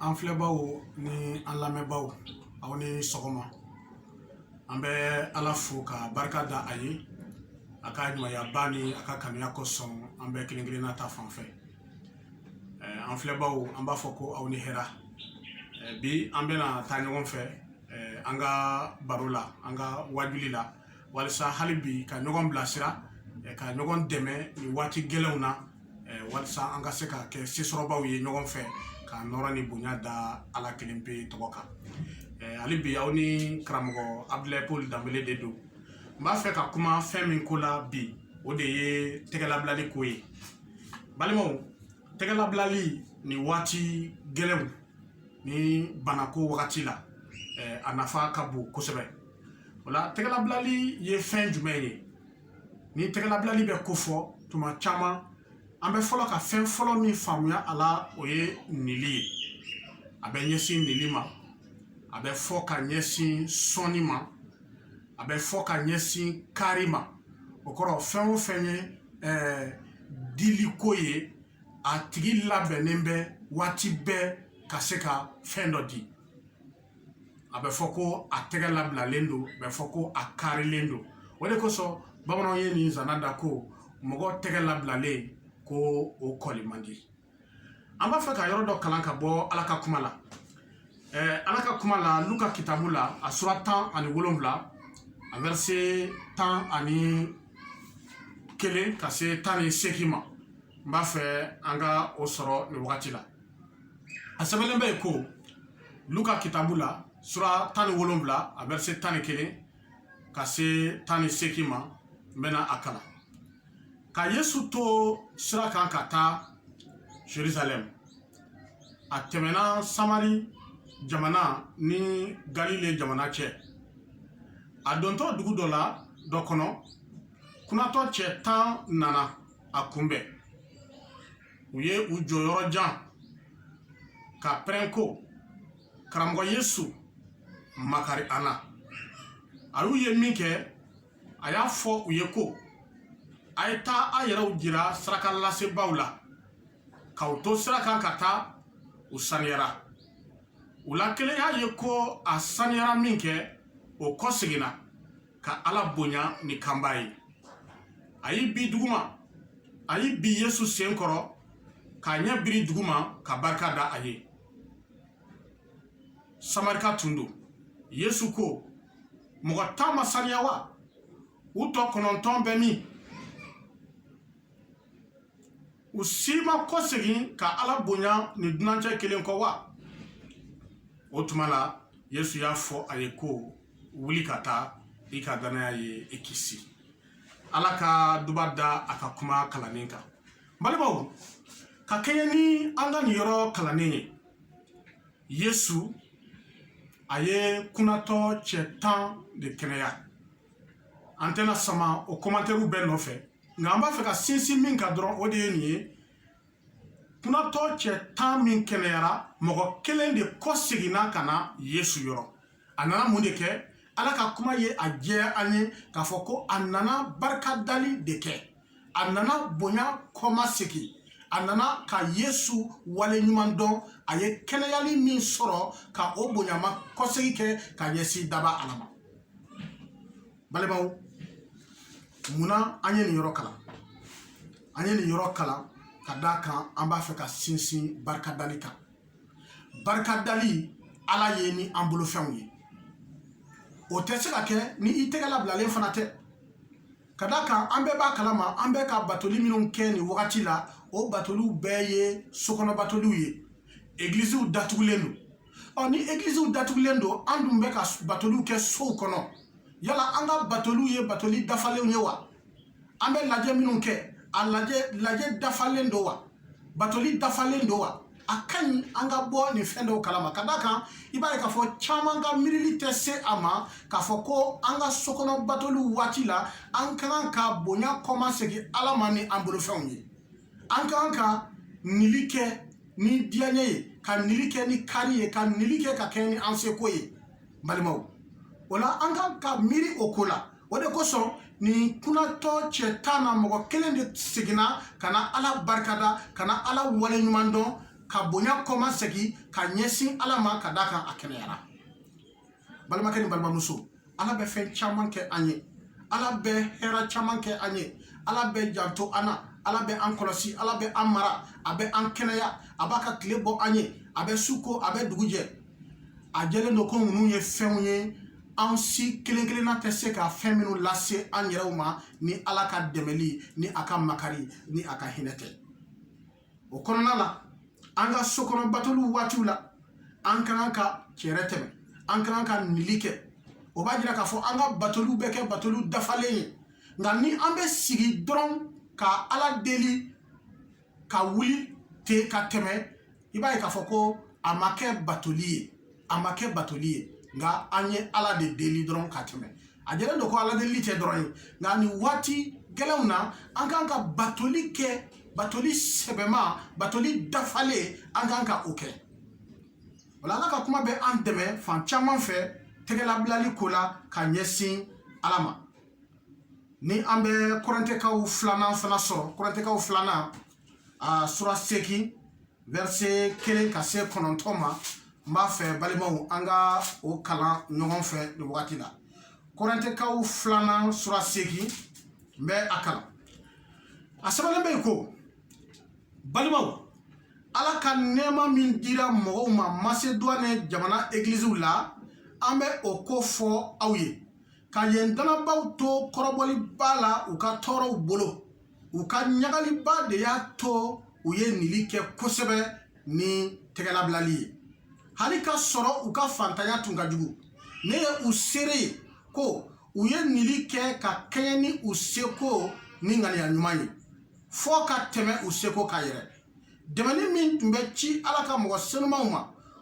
an filɛbaaw ni an lamɛnbaaw aw ni sɔgɔma an bɛ ala fo ka barika da a ye a ka ɲumanyaba ni a ka kanuya kosɔn an bɛɛ kelen kelenna ta fan fɛ an filɛbaaw an b'a fɔ ko aw ni hɛra bi an bɛna taa ɲɔgɔn fɛ an ka baro la an ka wajuli la walisa hali bi ka ɲɔgɔn bilasira ka ɲɔgɔn dɛmɛ nin waati gɛlɛnw na walisa an ka se ka kɛ sesɔrɔbaw ye ɲɔgɔn fɛ ka nɔrɔ ni bonya da ala kelen pe tɔgɔ kan hali bi aw ni karamɔgɔ abdulayi paul danbele de don n b'a fɛ ka kuma fɛn min ko la bi o de ye tɛgɛlabilali ko ye balimaw tɛgɛlabilali ni waati gɛlɛnw ni banako wagati la a nafa ka bon kosɛbɛ o la tɛgɛlabilali ye fɛn jumɛn ye ni tɛgɛlabilali bɛ kofɔ tuma caman an bɛ fɔlɔ ka fɛn fɔlɔ min faamuya a la o ye nili ye a bɛ ɲɛsin nili ma a bɛ fɔ ka ɲɛsin sɔnni ma a bɛ fɔ ka ɲɛsin kari ma o kɔrɔ fɛn o fɛn ye ɛɛ diliko ye a tigi labɛnnen bɛ waati bɛɛ ka se ka fɛn dɔ di a bɛ fɔ ko a tɛgɛ labilalen don a bɛ fɔ ko a karilen don o de kosɔn bamananw ye nin zana da ko mɔgɔ tɛgɛ labilalen ko o kɔli man di an b'a fɛ ka yɔrɔ dɔ kalan ka bɔ ala ka kuma la ɛɛ ala ka kuma la luka kitabu la a sura tan ani wolonwula a vɛrɛse tan ani kelen ka se tan ni seegin ma n b'a fɛ an ka o sɔrɔ nin wagati la a sɛbɛnlen bɛ yen ko luka kitabu la sura tan ni wolonwula a vɛrɛse tan ni kelen ka se tan ni seegin ma n bɛna a kalan ka yesu to sira kan ka taa jerusalɛm a tɛmɛna samari jamana ni galile jamana cɛ a dontɔ dugu dɔ la dɔ kɔnɔ kunatɔ cɛ tan nana a kunbɛn u ye u jɔ yɔrɔ jan ka pɛrɛn ko karamɔgɔ yesu makari an na a y'u ye min kɛ a y'a fɔ u ye ko a ye taa a yɛrɛw jira sarakalasebaaw la k'u to sira kan ka taa u saniyara u la kelen y'a ye ko a saniyara min kɛ o kɔ seginna ka ala bonya ni kanba ye a y'i bin duguma a y'i bin yesu sen kɔrɔ k'a ɲɛ biri duguma ka barika da a ye samarika tun don yesu ko mɔgɔ tan ma saniya wa u tɔ kɔnɔntɔn bɛ min u si ma kɔ segin ka ala bonya ni dunancɛ kelen kɔ wa o tuma la yesu y'a fɔ a ye ko wuli ka taa i ka danaya ye i kisi ala ka duba da a ka kuma kalannen kan balimaw ka kɛɲɛ ni an ka nin yɔrɔ kalannen ye yesu a ye kunatɔ cɛ tan de kɛnɛya an tɛna sama o komantɛriw bɛɛ nɔfɛ nka an b'a fɛ ka sinsin min kan dɔrɔn o de ye nin ye kunatɔ cɛ tan min kɛnɛyara mɔgɔ kelen de kɔ seginna ka na yesu yɔrɔ a nana mun de kɛ ala ka kuma ye a jɛya an ye k'a fɔ ko a nana barikadali de kɛ a nana bonya kɔma segin a nana ka yesu wale ɲuman dɔn a ye kɛnɛyali min sɔrɔ ka o bonyama kɔsegi kɛ ka ɲɛsin dabaa ala ma balimaw munna an ye nin yɔrɔ kalan an ye nin yɔrɔ kalan ka d'a kan an b'a fɛ ka sinsin barikadali kan barikadali ala ye ni an bolofɛnw ye o tɛ se ka kɛ ni i tɛgɛ labilalen fana tɛ ka d'a kan an bɛɛ b'a kalama an bɛ ka batoli minnu kɛ nin wagati la o batoliw bɛɛ ye sokɔnɔ batoliw ye egilisiw datugulen don ɔ ni egilisiw datugulen don an dun bɛ ka batoliw kɛ sow kɔnɔ yala an ka batoliw ye batoli dafalenw ye wa an bɛ lajɛ minnu kɛ a lajɛ lajɛ dafalen don wa batoli dafalen don wa a ka ɲi an ka bɔ nin fɛn dɔw kalama ka d'a kan i b'a ye k'a fɔ caman ka miirili tɛ se a ma k'a fɔ ko an ka sokɔnɔ batoliw waati la an ka kan ka bonya kɔma segin ala ma ni an bolofɛnw ye an ka kan ka nili kɛ ni diyaɲɛ ye ka nili kɛ ni kari ye ka nili kɛ ka kɛɲɛ ni an seko ye balimaw o la an ka kan ka miiri o ko la o de kosɔn nin kunatɔ cɛ tan na mɔgɔ kelen de seginna ka na ala barikada ka na ala wale ɲuman dɔn ka bonya kɔma segin ka ɲɛsin ala ma ka d'a kan a kɛnɛyara balimakɛ ni balimamuso ala bɛ fɛn caman kɛ an ye ala bɛ hɛra caman kɛ an ye ala bɛ janto an na ala bɛ an kɔlɔsi ala bɛ an mara a bɛ an kɛnɛya a b'a ka tile bɔ an ye a bɛ su ko a bɛ dugu jɛ a jɛlen don ko ninnu ye fɛnw ye an si kelen kelenna tɛ se ka fɛn minnu lase an yɛrɛw ma ni ala ka dɛmɛli ni a ka makari ni a ka hinɛ tɛ o kɔnɔna la an ka sokɔnɔ batoliw waatiw la an ka kan ka cɛrɛ tɛmɛ an ka kan ka nili kɛ o b'a jira k'a fɔ an ka batoliw bɛ kɛ batoliw dafalen ye nka ni an bɛ sigi dɔrɔn ka ala deli ka wuli ten ka tɛmɛ i b'a ye k'a fɔ ko a ma kɛ batoli ye a ma kɛ batoli ye nka an ye ala de deli dɔrɔn ka tɛmɛ a jɛlen don ko ala deli tɛ dɔrɔn ye nka nin waati gɛlɛnw na an kan ka batoli kɛ batoli sɛbɛma batoli dafalen an kan ka o kɛ wala ala ka kuma bɛ an dɛmɛ fan caman fɛ tɛgɛlabilali ko la ka ɲɛsin ala ma ni an bɛ korɛntɛkaw filanan fana sɔrɔ korɛntɛkaw filanan a sura segin verset kelen ka se kɔnɔntɔn ma n b'a fɛ balimaw an ka o kalan ɲɔgɔn fɛ nin wagati la korɛntɛkaw filanan sura seegin n bɛ a kalan a sɛbɛnnen bɛ yen ko balimaw ala ka nɛɛma min dira mɔgɔw ma maseduwani jamana egiliziw la an bɛ o ko fɔ aw ye ka yen dannabaaw to kɔrɔbɔliba la u ka tɔɔrɔw bolo u ka ɲagaliba de y'a to u ye nili kɛ kosɛbɛ ni tɛgɛlabilali ye hali k'a sɔrɔ u ka fantanya tun ka jugu ne ye u seere ye ko u ye nili kɛ ka kɛɲɛ ni u seko ni ŋaniya ɲuman ye fɔɔ ka tɛmɛ u seko kan yɛrɛ dɛmɛni min tun bɛ ci ala ka mɔgɔ senumanw ma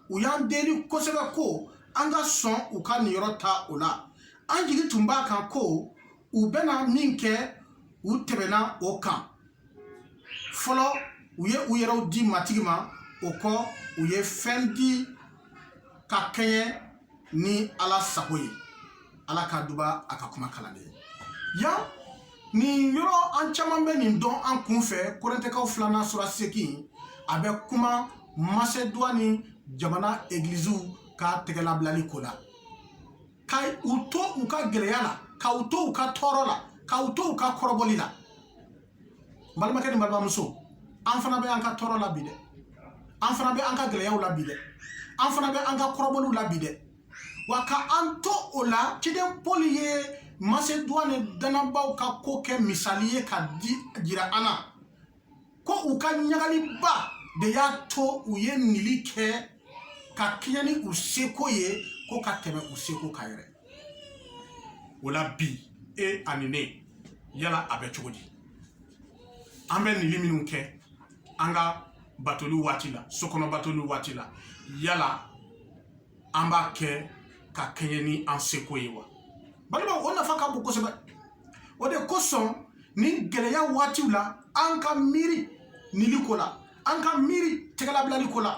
u y'an deli kosɛbɛ ko an ka sɔn u ka niyɔrɔ ta o la an jigi tun b'a kan ko u bɛna min kɛ u tɛmɛna o kan fɔlɔ u ye u yɛrɛw di matigi ma o kɔ u ye fɛn di ka kɛɲɛ ni ala sago ye ala ka duba a ka kuma kalannen ye yan nin yɔrɔ an caman bɛ nin dɔn an kun fɛ korɛntɛkaw filanan sura segin a bɛ kuma maseduwani jamana egiliziw ka tɛgɛlabilali ko la ka u to u ka gɛlɛya la ka u to u ka tɔɔrɔ la ka u to u ka kɔrɔbɔli la balimakɛ ni balimamuso an fana bɛ an ka tɔɔrɔ la bi dɛ an fana bɛ an ka gɛlɛyaw la bi dɛ an fana bɛ an ka kɔrɔbɔliw la bi dɛ wa ka an to o la ciden paul ye maseduwani dannabaaw ka ko kɛ misali ye ka di jira an na ko u ka ɲagaliba de y'a to u ye nili kɛ ka kɛɲɛ ni u seko ye ko ka tɛmɛ u seko kan yɛrɛ o la bi e ani ne yala a bɛ cogo di an bɛ nili minnu kɛ an ka batoli waati la sokɔnɔ batoli waati la yala an b'a kɛ ka kɛɲɛ ni an seko ye wa balimaw o nafa ka bon kosɛbɛ o de kosɔn nin gɛlɛya waatiw la an ka miiri nili ko la an ka miiri tɛgɛlabilali ko la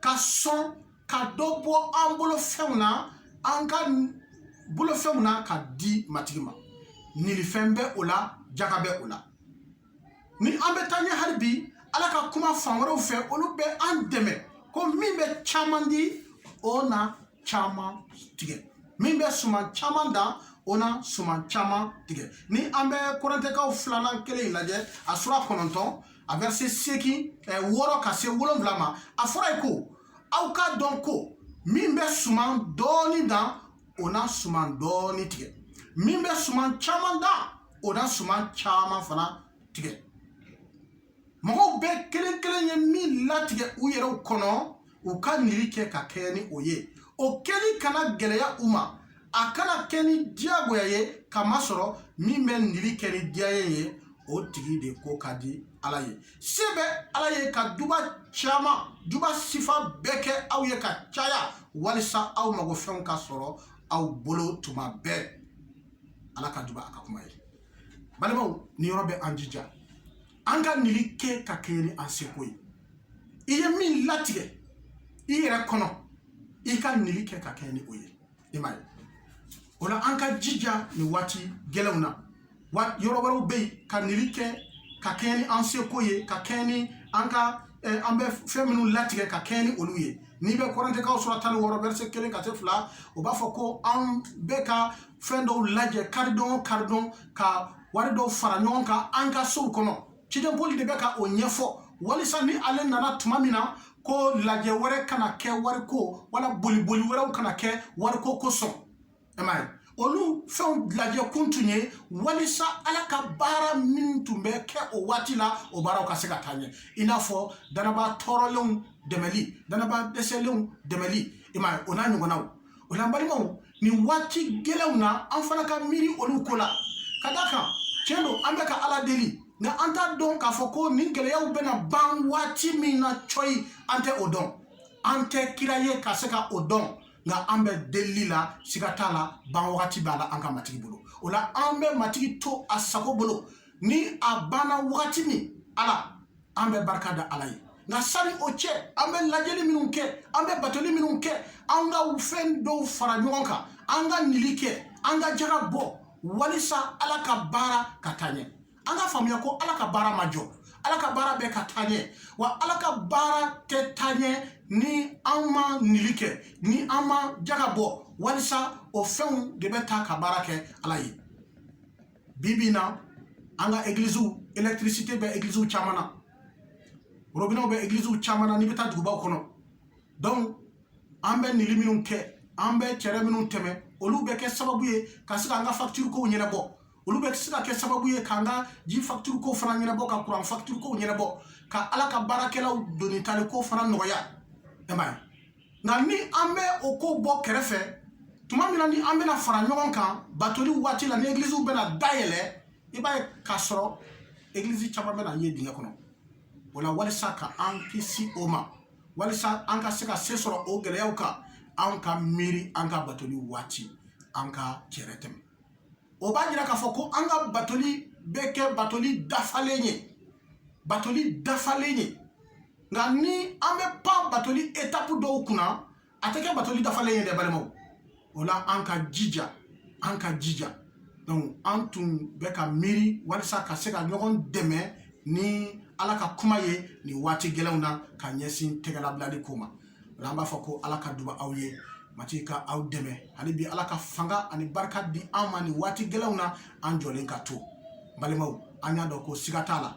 ka sɔn ka dɔ bɔ an bolofɛnw na an ka bolofɛnw na ka di matigi ma nilifɛn bɛ o la jaga bɛ o la ni an bɛ taa ɲɛ hali bi ala ka kuma fan wɛrɛw fɛ olu bɛ an dɛmɛ ko min bɛ caman di o na caman tigɛ min bɛ suman caman dan o na suman caman tigɛ ni an bɛ korintɛkaw filanan kelen in lajɛ a sura kɔnɔntɔn a vɛrɛse seegin wɔɔrɔ ka se wolonwula ma a fɔra ye ko aw k'a dɔn ko min bɛ suman dɔɔni dan o na suman dɔɔni tigɛ min bɛ suman caman dan o na suman caman fana tigɛ mɔgɔw bɛɛ kelen kelen ye min latigɛ u yɛrɛw kɔnɔ u ka nili kɛ ka kɛɲɛ ni o ye o kɛli kana gɛlɛya u ma a kana kɛ ni diyagoya ye k'a masɔrɔ min bɛ nili kɛ ni diyanye ye o tigi de ko ka di ala ye se bɛ ala ye ka duba caman duba sifa bɛɛ kɛ aw ye ka caya walisa aw magofɛnw ka sɔrɔ aw bolo tuma bɛɛ ala ka duba a ka kuma ye balimaw nin yɔrɔ bɛ an jija an ka nili kɛ ka kɛɲɛ ni an seko ye i ye min latigɛ i yɛrɛ kɔnɔ i ka nili kɛ ka kɛɲɛ ni o ye i m'a ye o la an ka jija nin waati gɛlɛnw na wa yɔrɔ wɛrɛw bɛ yen ka nili kɛ ka kɛɲɛ ni an seko ye ka kɛɲɛ ni an ka eh, an bɛ fɛn minnu latigɛ ka kɛɲɛ ni olu ye n'i bɛ korintɛkaw sura tan ni wɔɔrɔ vɛrɛse kelen ka se fila o b'a fɔ ko an bɛɛ ka fɛn dɔw lajɛ karidon o karidon ka wari dɔw fara ɲɔgɔn kan an ka sow kɔnɔ ciden poli de bɛ ka o ɲɛfɔ walisa ni ale nana tuma min na ko lajɛ wɛrɛ kana kɛ wariko wala boliboli wɛrɛw kana kɛ wariko kosɔn i m'a ye olu fɛnw lajɛ kun tun ye walisa ala ka baara min tun bɛ kɛ o waati la o baaraw ka se ka taa ɲɛ i n'a fɔ dannaba tɔɔrɔlenw dɛmɛli dannaba dɛsɛlenw dɛmɛli i m'a ye o n'a ɲɔgɔnnaw o la balimaw nin waati gɛlɛnw na an fana ka miiri olu ko la ka da kan tiɲɛ don an bɛ ka ala deli nka an t'a dɔn k'a fɔ ko nin gɛlɛyaw bɛna ban waati min na cɔyi an tɛ o dɔn an tɛ kira ye ka se ka o dɔn nka an bɛ delili la siga t'a la ban wagati b'a la an ka matigi bolo o la an bɛ matigi to a sago bolo ni a banna wagati min ala an bɛ barika da ala ye nka sani o cɛ an bɛ lajɛli minnu kɛ an bɛ batoli minnu kɛ an ka fɛn dɔw fara ɲɔgɔn kan an ka nili kɛ an ka jaga bɔ walisa ala ka baara ka taa ɲɛ an ka faamuya ko ala ka baara ma jɔ ala ka baara bɛ ka taa ɲɛ wa ala ka baara tɛ taa ɲɛ ni an ma nili kɛ ni an ma jaga bɔ walisa o fɛnw de bɛ ta ka baara kɛ ala ye bi bi in na an ka egiliziw électricité bɛ egiliziw caman na robinɛw bɛ egiliziw caman na n'i bɛ taa dugubaw kɔnɔ donc an bɛ nili minnu kɛ an bɛ cɛrɛ minnu tɛmɛ olu bɛ kɛ sababu ye ka se k'an ka facture kow ɲɛnabɔ olu bɛ se ka kɛ sababu ye k'an ka ji facture kow fana ɲɛnabɔ ka kuran facture kow ɲɛnabɔ ka ala ka baarakɛlaw doni tali ko fana nɔgɔya nka ni an bɛ o ko bɔ kɛrɛfɛ tuma min na ni an bɛna fara ɲɔgɔn kan batoli waati la ni egiliziw bɛna dayɛlɛ i b'a ye k'a sɔrɔ egilizi caman bɛna ye dingɛ kɔnɔ o la walisa ka an kisi o ma walisa an ka se ka se sɔrɔ o gɛlɛyaw kan an ka miiri an ka batoli waati an ka cɛrɛ tɛmɛ o b'a jira k'a fɔ ko an ka batoli bɛ kɛ batoli dafalen ye batoli dafalen ye nka ni an bɛ pan batoli etapu dɔw kunna a tɛ kɛ batoli dafalen ye dɛ balimaw o la an ka jija an ka jija donc an tun bɛ ka miiri walisa ka se ka ɲɔgɔn dɛmɛ ni ala ka kuma ye nin waati gɛlɛnw na ka ɲɛsin tɛgɛlabilali ko ma o la an b'a fɔ ko ala ka duba aw ye matigi ka aw dɛmɛ hali bi ala ka fanga ani barika di an ma nin waati gɛlɛnw na an jɔlen ka to balimaw an y'a dɔn ko siga t'a la